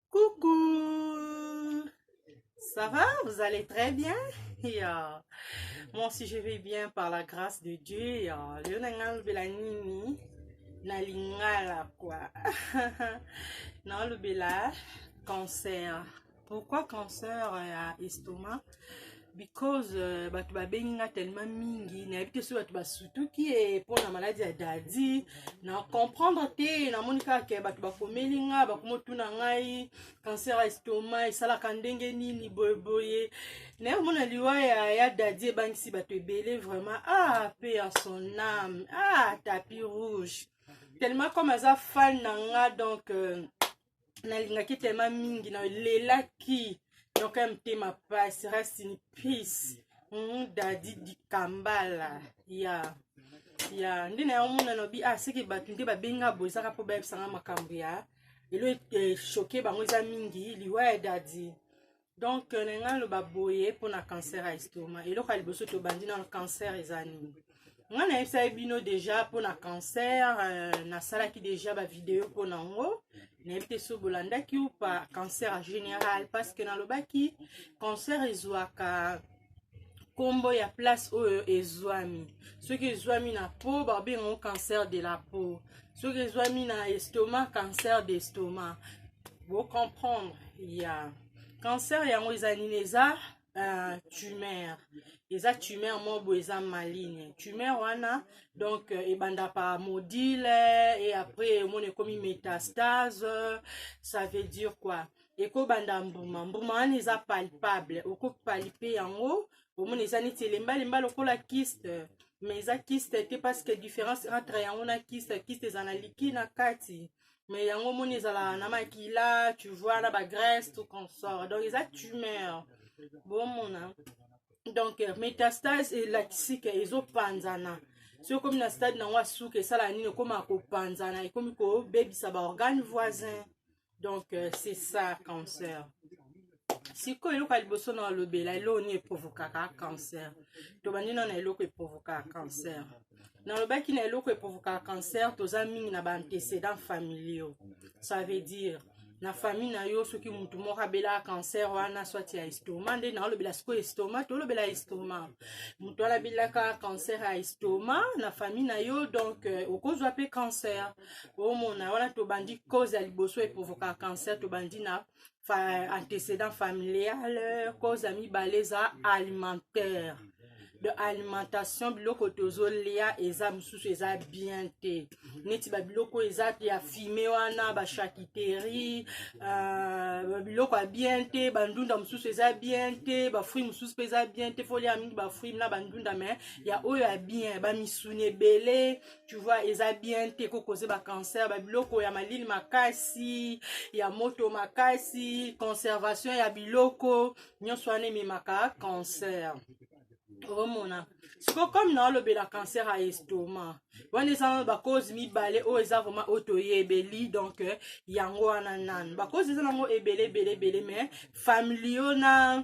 Coucou Ça va Vous allez très bien et, euh, Moi aussi je vais bien par la grâce de Dieu. Et, euh, leo na ngai alobela nini na lingala quoi. na alobela cancer. pourquoi cancer ya estomac because uh, bato babengi nga tellement mingi nayebi te soki bato basutuki e mpo na maladi ya dadi na comprendre te namoni kaka ke bato bakomeli nga bakomotuna ngai cancer ya estoma esalaka ndenge nini boyeboye naye omona liwa ya, ya dadi ebangisi bato ebele vraiment ah pe ya son ame ah tapi rouge tellement comme aza fan na nga donc euh, nalingaki telema mingi nalelaki donc ya motema pasi racine peace mm, dadi dikambala ya ya nde na yango mona nabi ah seke bato nde babenga bozaka mpo bayebisanga makambo ya elo eshoke eh, bango eza mingi liwa ya dadi donc euh, nalinga naloba boye mpo na cancer ya estoma eloko ya liboso tobandi nano cancer eza nini ngai nayebisaki bino deja mpo na cancer euh, nasalaki deja bavideo mpo na yango nayebi te so bolandaki upa cancer en général parce que nalobaki cancer ezwaka nkombo ya place oyo ezwami soki ezwami na po babengango cancer de la peau soki ezwami na estomac cancer de estomac bocomprendre ya yeah. cancer yango eza nini eza uh, tumeur eza tumeur moko boye eza maline tumeur wana donc euh, ebanda pa modile et après omona ekomi métastase ça veut dire quoi ekobanda mbuma mbuma wana eza palpable okopalpe yango omona eza neti elembalemba lokola kiste mais eza kiste te parce que différence entre yango na kiste kiste eza na liki na kati mais yango omoni ezalaka na makila tu vois na bagrèce tout consort donc eza tumeur bomona donc euh, métastase elakisi ke ezopanzana soki okomi na stade nango ya suka esalaka nini ekoma kopanzana ekomi kobebisa baorgane voisin donc euh, c'est ça cancer sikoyo eloko ya liboso na olobela eloko nini eprovokaka cancer tobandi nao na eloko eprovokaka cancer nalobaki na eloko eprovokaka cancer toza mingi na baantecédent familiaux ça veut dire na famille na yo soki motu moko abelaka cancer wana swati ya estoma nde naolobela sikoyo estoma tolobela estoma motu wana abelaka cancer ya estoma na famille na yo donc euh, okozwa mpe cancer omona wana tobandi cause ya liboso eprovoka cancer tobandi na fa, antecédent familial cause ya mibale eza alimentaire de alimentation biloko tozolia eza mosusu eza bien te neti babiloko eza ya fime wana bachakiteri uh, biloko ya bien te bandunda mosusu eza bien te bafruit mosusu mpe eza bien te folia mingi bafruit na bandunda me ya oyo ya bien bamisuni ebele tu vois eza bien te ko cause ba cancer ba biloko ya malili makasi ya moto makasi conservation ya biloko nyonso wana ememaka cancer omona siko comme na olobela cancer ya estoma wana eza nano bacause mibale oyo eza vraimen oyo toyebeli donc euh, yango wana nanu bacause eza nango ebele ebele ebele mais famili yo na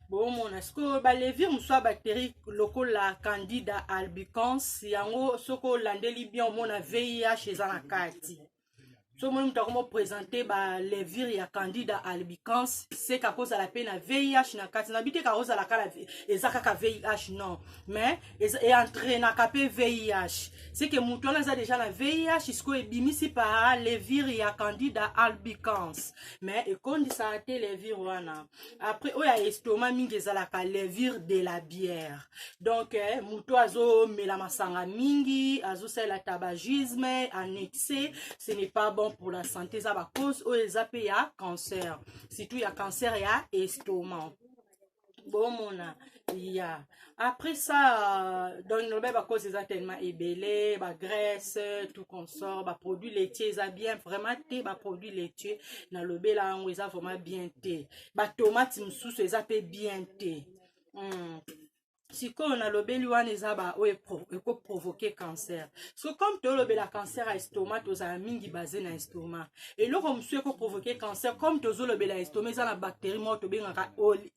bomona sikoyo balevire mosusu ya bacterie lokola candida albicans yango soki olandeli bien omona vih eza na kati so omoni moto akomi opresente balevire ya candida albicans seka kozala mpe na vih na kati na biteka kozala kala eza kaka vih non mais eentrenaka mpe vih seke moto wana eza deja na vih sikoyo ebimisi pa levire ya candida albicans mais ekondisaka te levire wana après oyo ya estoma mingi ezalaka levure de la bière donc eh, moto azomela masanga mingi azosalela tabagisme annexe ce n'est pas bon pour la santé eza bacause oyo eza mpe ya cancer surtout ya cancer ya estoma bomona ya après ça euh, donc lobe bakozi eza tellement ebele bagraisse tout consort baproduit laitier eza bien vraiment te baproduit laitier nalobela yango eza vraiment bien te batomate mosusu eza mpe bien te mm. sikoyo nalobeli wana eza baoyo ekoprovoke cancer so comme tolobela cancer ya estoma tozala mingi base na estoma eloko mosusu ekoprovoke cancer comme tozolobela estoma eza na bactérie moko tobengaka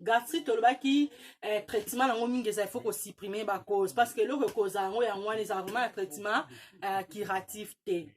gastrite tolobaki eh, traitement nango mingi eza ifo kosupprime bacause parce que eloko ekozala yango yango wana ezala vraiment ya traitement eh, curatif te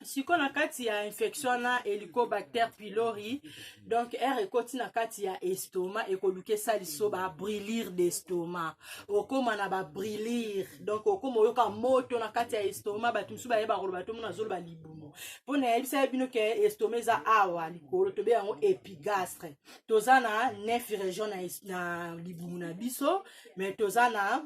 sikoyo na kati ya infection wana helicobacter pylori donc aire ekoti na kati ya estoma ekoluka esaliso babrillire d'estoma okóma na babrillire donc okóma oyoka moto na kati ya estoma bato mosusu bayeba koloba tomona azoloba libumu mpo nayebisa ye bino ke estoma eza awa likolo tobe yango epigastre toza na neuf région na, na libumu na biso mais toza na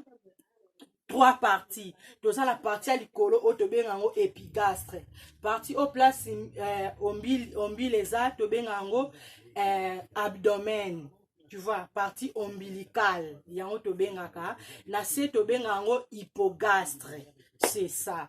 trois parties toza na parti ya likolo oyo tobenga yango epigastre parti oyo place eh, ombile, ombile eza tobenga yango eh, abdomen tu vois parti ombilicale yango tobengaka na se tobenga yango hypogastre c'est ça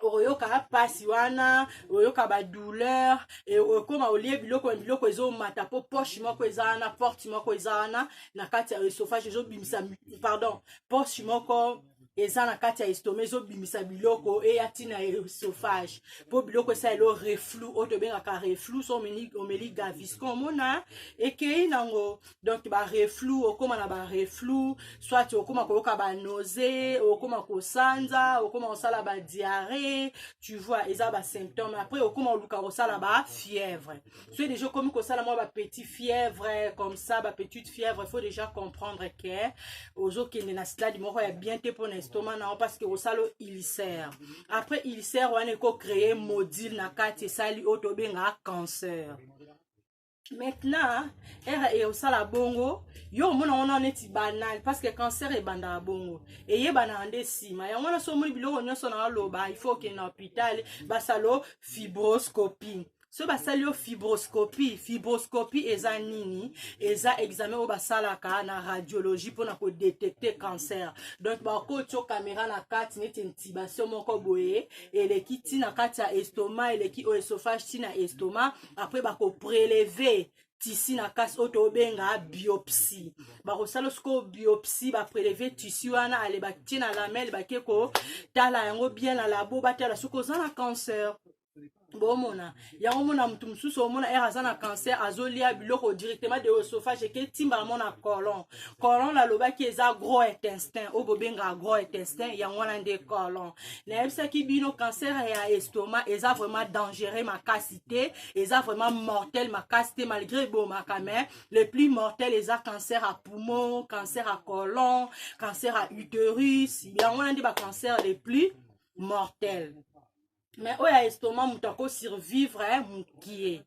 okoyoka mpasi wana oyoka badouleur e, okoma olie biloko na biloko ezomata mpo poche moko eza wana porte moko eza wana na kati ya esophage ezobimisa pardon poche moko eza na kati ya estoma ezobimisa biloko eya ntina ya esophage mpo biloko esa elo reflou oyo tobengaka reflou so omeli gavisco omona ekei nango donc bareflou okóma na bareflou soit okóma koyoka banose okóma kosanza okóma kosala badiarré tu vois eza basymptôme après okóma oluka kosala bafièvre soki déjà okomi kosala mwa bapetit fièvre comme ça bapetite fièvre faut déjà comprendre ke ozokende na stade moko ya bien te mpo na estoma na yo parce que osala ulcère après ulcère wana ekocreye module na kati esali oyo tobengaka cancer maintenant ere eye osala bongo yo omona wana neti banal parce que cancer ebandaka bongo eyebanaka nde nsima yango wana so omoni biloko nyonso na aloba il faut okende na hôpital basalo fibroscopie soki basali yo fibroscopie fibroscopie eza nini eza examen oyo basalaka na radiologie mpona kodetecte cancer donc bakotio kamera na kati neti intibation moko boye eleki ti na kati ya estoma eleki oyo esophage ti na estoma apres bakopreleve tisi na kasi oyo tobenga biopsie bakosala sikoyo biopsie bapreleve tisi wana ale batie na lamele bake kotala yango bien na labo batala soki oza na cancer bomona yango mona motu mosusu omona ere aza na cancer azolia biloko directement de oesophage eke etimba mo na colon colon nalobaki eza gros intestin oyo bobenga gros intestin yango wana nde colon nayebisaki bino cancer ya estomac eza vraiment dangereux makasi te eza vraiment mortel makasi te malgré ebomaka mais le plus mortel eza cancer à poumon cancer à colon cancer à uterus yango wana nde bacancer le plus mortel mais oyo ya estomac moto ako survivre eh, mokie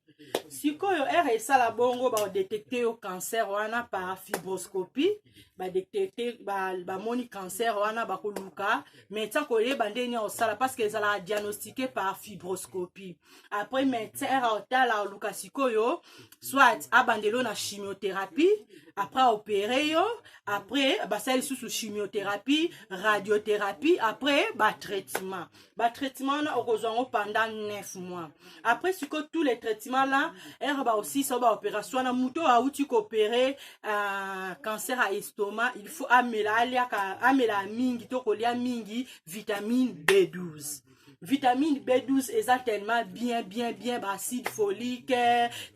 sikoyo ere esala bongo baodetecte yo cancer wana par fibroscopie badetecte bamoni ba cancer wana bakoluka médecin koyeba ndenge nini akosala parce que ezalaka diagnostiqué par fibroscopie après médecin ere otala oluka sikoyo soit abandelo na chimiothérapie après opéré yo après basali lisusu chimiothérapie radiothérapie après batraitement ba traitement wana okozwa yango pendant 9 mois après siko tous les traitement là ere baosisa ba opération wana moto oyo auti koopere uh, cancer ya estomac il faut amela aliaka amela mingi to kolia mingi vitamine b12 vitamine b12 eza tellement bien bien bien baacide folique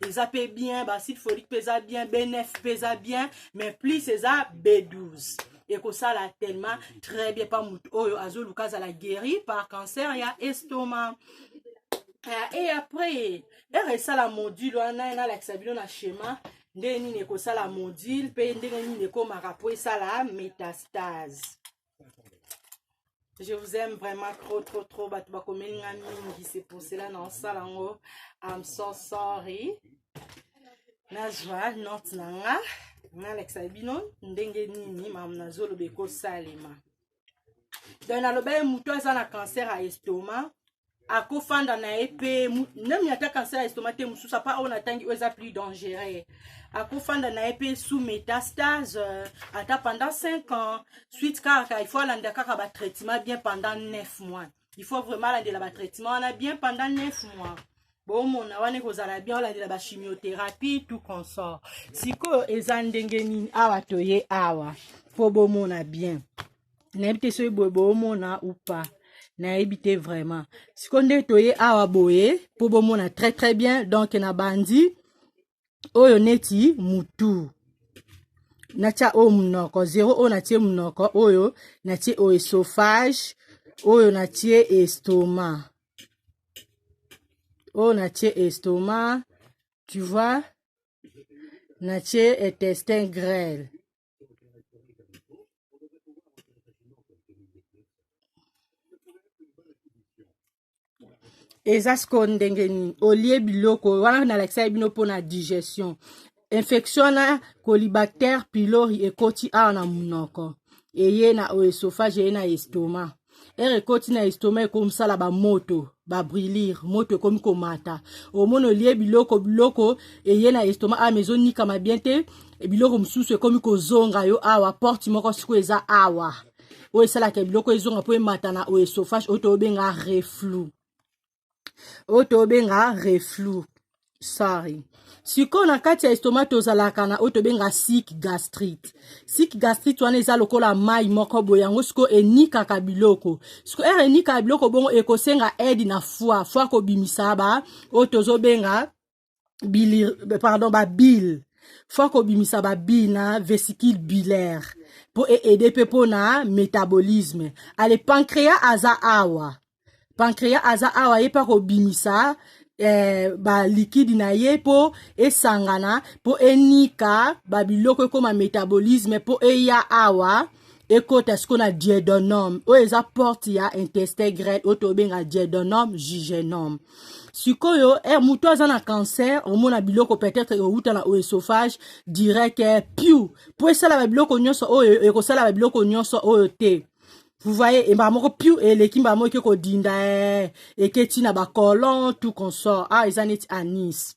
eza mpe bien baacide folique mpe eza bien b9 mpe eza bien mais plus eza b12 ekosala tellement très bien pa moto oyo azoluka azala guéri par cancer ya estoma uh, et après ere esala module wana nalakisa bino na schéma ndenge nini ekosala module mpe ndenge nini ekomaka mpo esala métastase je vous aime vraiment trop trop trop bato bakomeli nga mingi c'est pour cela na osala yango i'm so sorry nazwa note na nga nalakisa bino ndenge nini mamu nazoloba ekosalema donc naloba ye motu aza na cancer ya estoma akofanda na ye mpe nami ata kanser ya estoma te mosusu apa oyo natangi oyo eza plus dangereux akofanda na ye mpe sous métastase euh, ata pendant 5 ans suite kaka il faut alanda kaka batraitement bien pendant 9 mois il faut vraiment alandela batraitement wana bien pendant 9 mois bomona wana ekozala bien olandela bachimiothérapie tout consort sikoyo eza ndenge nini awa toye awa mpo bomona bien nayebi te soki boye boomona ou pas nayebi te vraiment siko nde toye awa boye mpo bomona très très bien donc na bandi oyo neti mutu natya oyo monoko zero oyo natye monoko oyo natye oyo esophage oyo natye estoma oyo natye estoma tu vois natye intestin grêle eza sikoyo ndenge nini olie biloko wana nalakisaki bino mpona digestion infection wana colibactère pylori ekoti awa na monoko eye na oesophage eye na estomac ere ekoti na estoma ekomisala bamoto babrilir moto ekomi komata omoni olie biloko biloko eye na estoma ama ezonikama bien te biloko mosusu ekomi kozonga yo awa porte moko sikoyo eza awa oyo esalaka biloko ezonga mpo emata na oesophage oyo tobenga reflou oyo tobenga reflux sorry sikoyo na kati ya estoma tozalaka na oyo tobenga sik gastrite sik gastrite wana eza lokola mai moko boye yango sikoyo enikaka biloko siko ere enikaka biloko bongo ekosenga aide na foi foi kobimisa ba oyo tozobenga bili pardon ba bill faut akobimisa ba bill na vesicule bilaire mpo eaide mpe mpo na métabolisme ale pancréa aza awa pancréa aza awa ye mpe akobimisa eh, balikidi na ye mpo esangana mpo enika babiloko ekoma métabolisme mpo eya awa ekota siko na diedonome oyo eza porte ya intestin grel oyo tobenga diedonome jugenome sikoyo eh, moto aza na cancer omona biloko peut-être euta na oesophage direct eh, piu mpo esala babiloko nyonso oyo ekosala babiloko nyonso oyo te vous voyez e mbala moko piu eleki mbala moko eke kodinda eh, eketi na bacolon tout consort ah eza neti anis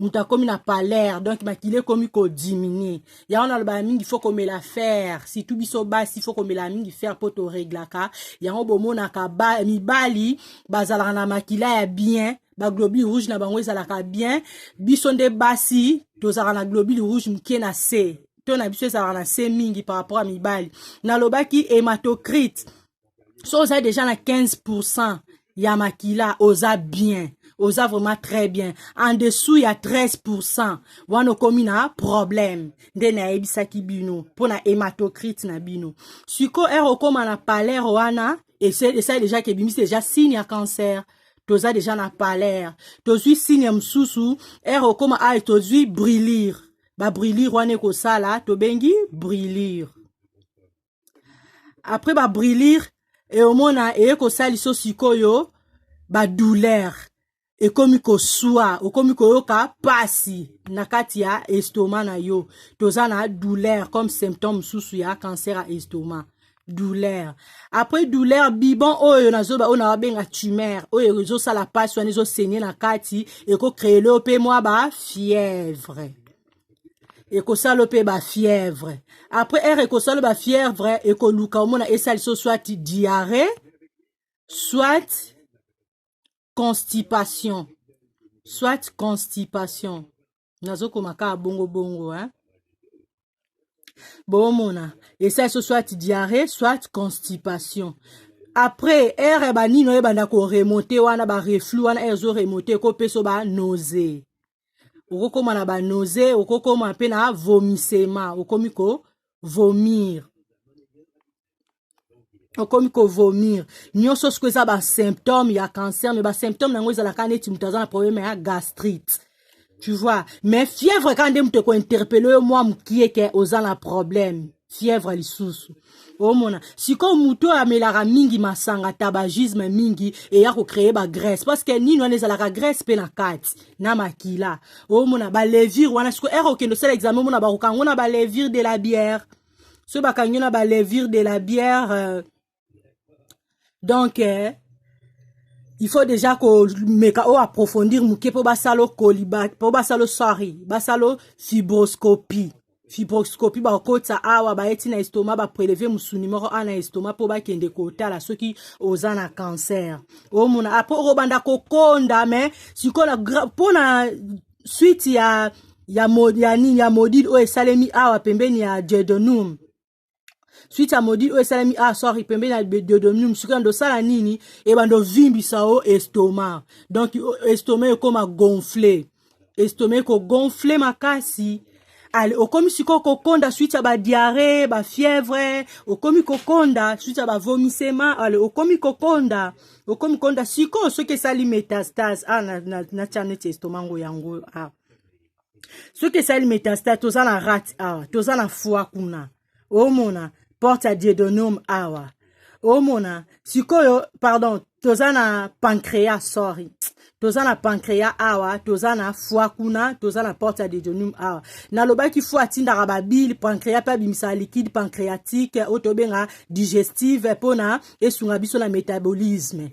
moto akomi na palere donc makila ekomi kodiminue yango nalobaka mingi fo komela fere surtout biso basi fo komela mingi fere mpo toreglaka yango bomonaka ba, mibali bazalaka na makila ya bien baglobule rouge na bango ezalaka bien biso nde basi tozalaka na globule rouge moke na se to na biso ezalaka na se mingi par rapport ya mibali nalobaki hematocrite so oza deja na 15 pourcent ya makila oza bien oza vraiment très bien en dessous ya 13 pourcent wana okomi na problème nde nayebisaki bino mpo na hématocrite na bino sikoyo ere okóma na palere wana esali deja ke ebimisi deja signe ya cancer toza deja na palere tozwi signe mosusu ere okóma aye tozwi brillure babrillure wana ekosala tobengi brillure après ba brûlure e omona eye kosali so sikoyo ba douleur ekomi koswa okomi koyoka pasi na kati ya estoma na yo toza na douleur comme symptôme mosusu ya cancer ya estoma douleur après douleur bibon oyo na zoba oyo nababenga tumeur oyo ezosala mpasi wana ezosenye na kati ekocreele yo mpe mwa ba fièvre ekosala mpe bafièvre après heure ekosala bafièvre ekoluka omona esali so soit diarrhée soit constipation soit constipation nazokoma kaka bongo bongo hein? bomona esali so soit diarrhée soit constipation après ere banini oyo ebanda koremonte wana bareflu wana ere ezoremonte ekopeso banose okokoma na banose okokoma mpe na vomisema okomi ko vomir okomi kovomir nyonso soko eza basymptome ya cancer me basymptome na yango ezalaka neti moto aza na probleme ya gastrite tu vois mais fièvre kaka nde moto ekointerpele yo mwa mokie ke oza na probleme fièvre lisusu omona sikoyo moto oyo amelaka mingi masanga tabagisme mingi eya kocreye bagrèce parce que nini wana ezalaka grèce mpe na kati na makila omona balevire wana sikoyo ere okende osala examen omona bakokango na balevire de la bière soki bakangi yo na balevire de la bière euh, donc eh, il faut déjà komeka oyo approfondir moke mpo basala okoli mpo basala sorry basala fibroscopie fibroscopie bakokotisa awa bayeti na estoma bapreleve mosuni moko awa na estoma mpo bakende kotala soki oza na cancer omona apres ah, okobanda kokonda me sikoyo mpo na suite ya ya, mo, ya nini ya modile oyo esalemi awa pembeni ya jedonum suite ya modi oyo esalemi ah sorry pembeni ya diodomium soki yando osala nini ebanda ovimbisa o estoma donc estoma ekoma gonfle estoma ekogonfle makasi ale okomi sikoyo kokonda suite ya badiare bafièvre okomi kokonda suite ya bavomisema ale okomi kokonda okomi kokonda sikoyo soki esali metastase a ah, natya na, na, na neti estoma ngo yango a ah. soki esali metasta toza na rate awa toza na foi kuna omona porte ya diedonome awa omona sikoyo pardon toza na pancrea sorry toza na pancrea awa toza na foi kuna toza na porte ya dedonum awa nalobaki foi atindaka babile pancrea mpe abimisaka liquide pancréatique oyo tobenga digestive mpo na esunga biso na métabolisme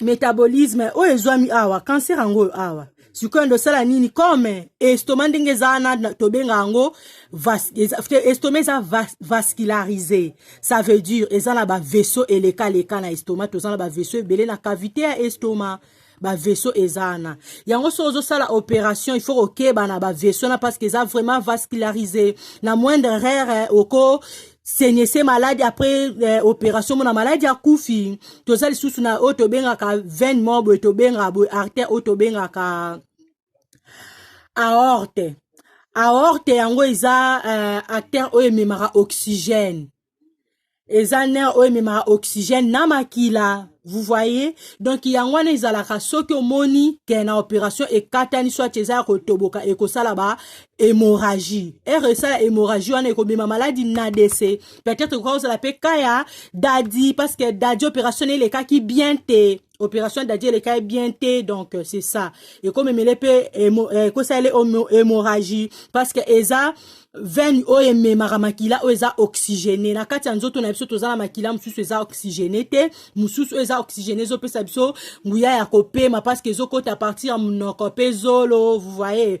metabolisme oyo ezwami awa kanser yango oyo awa sikoyo ndo osala nini comme estoma ndenge eza wana tobenga yango estoma eza vascularise ça veut dire eza na bavaisseau elekaleka na estoma toza na bavaisseau ebele na cavité ya estoma bavaisseau eza wana yango soki ozosala opération il faut kokeba na bavaisseau na parce que eza vraiment vascularise na moindre rere oko senese maladi après eh, opération mona maladi akufi toza lisusu na oyo tobengaka veine moko boye tobengaka boye artère oyo tobengaka aorte aorte yango eza eh, artère oyo ememaka oxygène eza nerf oyo ememaka oxygène na makila vous voyez donc yango wana ezalaka soki omoni ke na opération ekatani soit eza ya kotoboka ekosala ba hémorragie ere esala hémorragie wana ekobima maladi na dese peut-être ekoka kozala mpe ka ya dadi parce que dadi opération na elekaki bien te opération dadi elekaki bien te donc euh, c'est ça ekomemele mpe euh, ekosala ele hémorragie parce que eza veine oyo ememaka makila oyo eza oxygéné na kati ya nzoto na biso toza na makila mosusu eza oxygéné te mosusu oyo eza oxygéné ezopesa biso nguya ya kopema parce que ezokota partir ya monoko mpe zolo vous voyez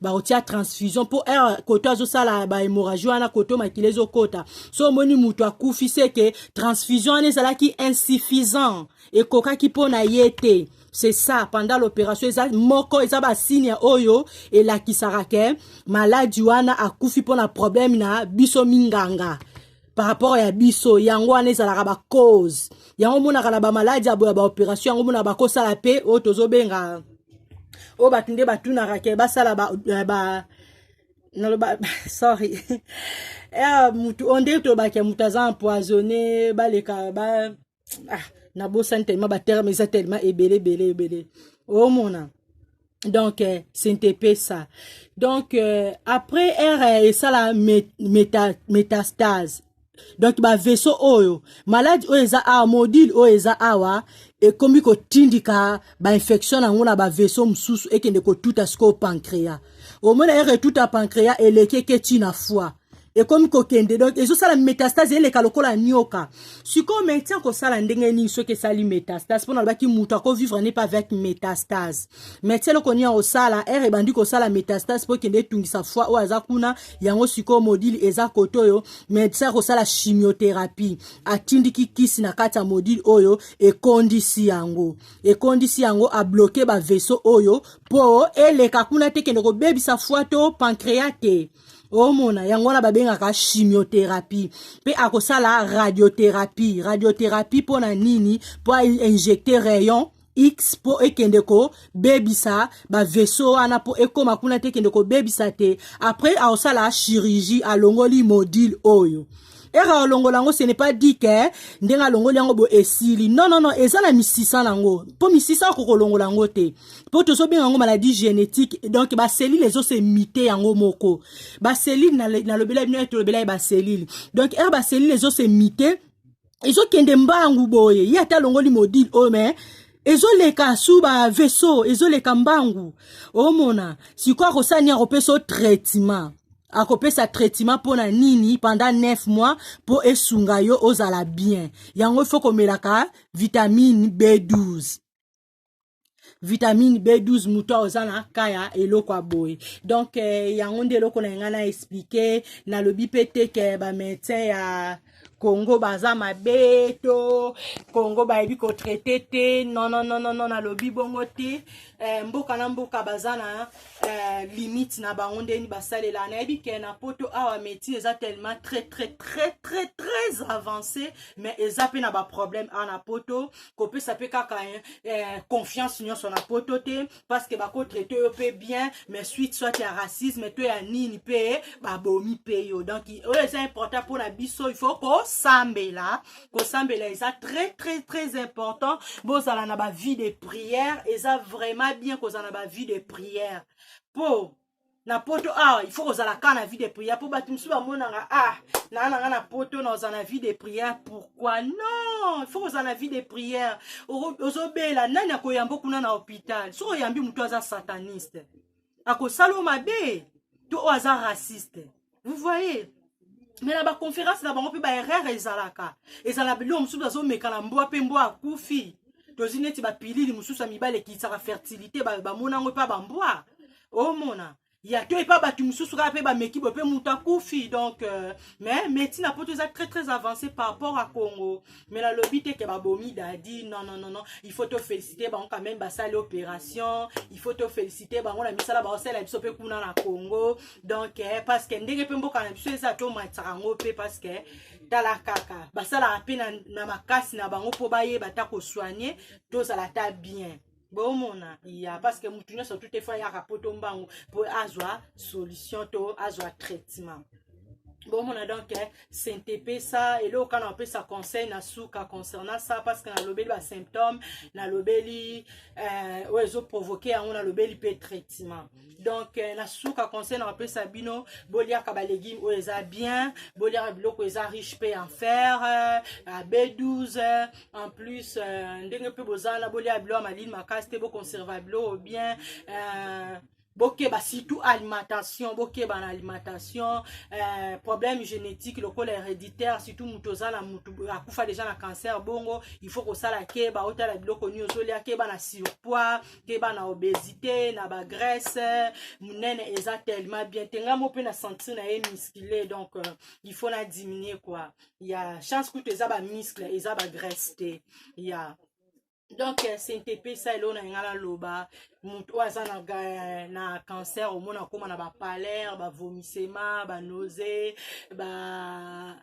bakotia transfusion mpo heure koto azosala bahemorragie wana koto makila ezokota so omoni moto akufi seke transfusion wana ezalaki insuffisant ekokaki mpo na ye te c'est ça pendant l'opération eza moko eza basigne oyo elakisaka ke maladi wana akufi mpo na problème na biso minganga par rapport ya biso yango wana ezalaka bacause yango omonaka na bamaladi aboya baopération yango omonaka bakosala mpe oyo tozobenga oyo bato nde batunaka ke basala ba, eh, ba naloba sorry ya eh, motu oyo nde tolobaka motu aza empoisonne baleka ba, ah nabosani tellement baterme eza tellement ebele ebele ebele omona oh, donc euh, sentepe ça donc euh, après ere euh, esala meta, métastase donc baveso oyo maladi oyo eza awa modile oyo eza awa ekomi kotindika bainfection na yango na baveso mosusu ekende kotuta sikoyo pancréa omona ere etuta pancréa eleki eke ntina fois ekomi kokende donc ezosala metastase eleka lokola nioka sikoyo maintien kosala ndenge nini soki esali metastase mpona alobaki moto akovivre ne pas avec metastase maintien eloko nini akosala ere ebandi kosala metastase mpo ekende etungisa foi oyo aza kuna yango sikoyo modile eza kote oyo maintien akosala chimiotherapie atindiki kisi na kati ya modile oyo ekondisi yango ekondisi yango abloke baveso oyo mpo eleka kuna te kende kobebisa foi to pancrea te omona yango wana babengaka chimiothérapie mpe akosala radiothérapie radiothérapie mpo na nini mpo ainjecte rayon x mpo ekende kobebisa baveso wana mpo ekóma kuna te ekende kobebisa te après aosala chirurgie alongoli module oyo ere alongola yango ce n'est pas dit que ndenge alongoli yango bo esili non non non eza na misisa na yango mpo misisa akoki kolongola yango te mpo tozobenga yango maladie génétique donc baselile ezosemite yango moko baselile nalobela bino tolobela ye baselile donc ere baselile ezosemite ezokende mbangu boye ye ata alongoli modile oyo oh, mais ezoleka su ba vaisseau ezoleka mbangu omona sikoyo akosala nini akopesa o traitement akopesa traitement mpo na nini pendant 9 mois mpo esunga yo ozala bien yango ifo komelaka vitamine b12 vitamine b12 moto ayo oza na ka ya eloko ya boye donk eh, yango nde eloko na ngai na explike nalobi mpe te ke bamédecin ya Congo baza mabe to Congo bayebi ko traite te non non non non nalobi bongo te eh, mboka na mboka baza na eh, limite na bango ndeni basalela nayebi ke na poto awa médecine eza tellement très très très très très avancé mais eza mpe na baproblème awa na poto kopesa mpe kaka eh, confiance nyonso na poto te parce que bako traite yo mpe bien mais suite soit ya racisme to ya nini mpe babomi mpe yo donc oyo eza important mpo na biso il faut kosambela kosambela eza très très très important bozala na bavie de prière eza vraiment bien kozala na bavie de prière mpo na poto awa ah, il faut kozala ka na vie de prière mpo bato mosusu bamonaka ah naa na nga na poto na ozala na vie de prière pourquoi non il faut kozala na vie de prière ozobela nani akoyambo kuna na hôpital soki oyambi motu aza sataniste akosala yo mabe to oyo aza raciste vous voyez me na baconférence na bango mpe baerreur ezalaka ezala biloko mosusu azomeka na mbwa mpe mbwa akufi tozi neti bapilili mosusu ya mibale ekisaka fertilité bamona yango epa bambwa omona ya to epa bato mosusu kaka mpe bameki boye mpe moto akufi donc euh, mais médecine na poto eza très très avancé par rapport à congo mais nalobi te ke babomi dadi non non non non il faut tofélicité bango quand même basali opération il faut tofélicité bango na misala baosala biso mpe kuna na congo donc eh, parce que ndenge mpe mboka na biso eza tomatisaka yango mpe parce que tala kaka basalaka mpe na, na makasi na bango mpo bayeba ata kosoigne tozala ata bien bomona ya parce que mutu nyonso tout efo ayaka poto mbangu mpo azwa solution to azwa traitement bomona donc eh, sentepesa eloko kaka napesa conseil na suka concernant ça parce que nalobeli basymptôme nalobeli euh, oyo ezoprovoke yango nalobeli mpe traitement donc euh, na suka conseil nakopesa bino boliaka balegume oyo eza bien boliaka biloko eza riche mpe en fer euh, à b12 euh, en plus ndenge mpe boza wana boliaka biloko ya malili makasi te boconserva biloko bien euh, bokeba surtout alimentation bokeba na alimentation euh, problème génétique lokola héréditaire surtout moto oza na moto akufa déjà na cancer bongo il faut kosala keba otala biloko nini ozolia keba na surpoids keba na obesité na ba graisse munene eza tellement bien te nga mo pe na sentir na ye musclé donc euh, il faut na diminuer quoi ya chance kutu eza ba muscle eza ba graisse te ya donc euh, sentepe sa eloo na nga naloba moto oyo aza na, na cancer omona akóma na bapalere bavomisema banose ba, ba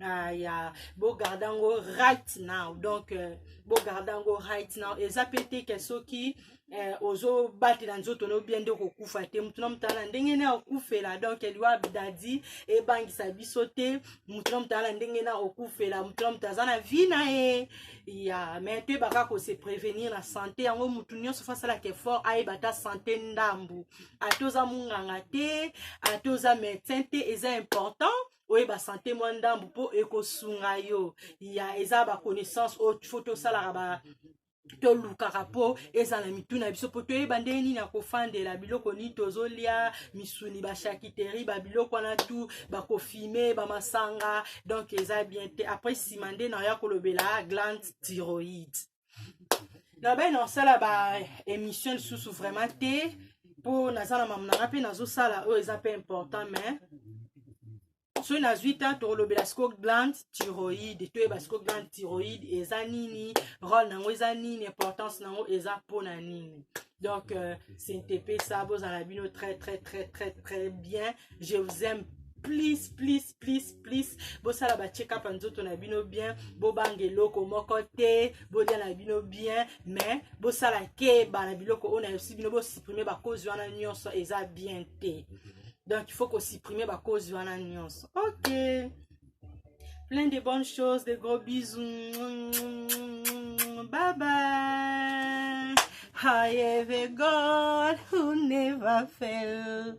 Ah, ya bogarde yango right now donc euh, bogarde yango right now eza mpe te ke soki eh, ozobatela nzoto no bien nde okokufa te motu na motu ala ndenge na okufela donc liwa dadi ebangisa biso te motu na motu ala ndenge na okufela motu na motu aza na vie na ye ya mai toyeba kaka kose prévenir na santé yango motu nyonso fo asalaka effort ayeba ata santé ndambu ata oza monganga te ata oza médecin te eza important oyeba sante mwa ndambu mpo ekosunga yo ya eza baconnaissance oyo fo tosalaka ba tolukaka mpo ezala mitu na biso mpo toyeba ndenge nini akofandela biloko nini tozolya misuni bashakiteri babiloko wana tu bakofime bamasanga donc eza bien te après nsima nde naoya kolobela glande tyroïde na bai na osala ba émission lisusu vraiment te mpo naza na mamu nanga mpe nazosala oyo eza mpe important mais soki nazwi ntan tokolobela siko glande tyroïde toyeba siko glande tyroïde eza nini role nango eza nini importance nango eza mpo na nini donc euh, cntp ça bozala bino très très très très très bien je vous aime please please please please bosala ba check up ya nzoto na bino bien bobanga eloko moko te bolia na bino bien mais bosala keba na biloko oyo nayosi bino bosupprime bakozi wana nyonso eza bien te donc il faut kosupprime bakozi wana nyonso ok plein de bonnes choses de gros bisous bye bye I have a God who never fails.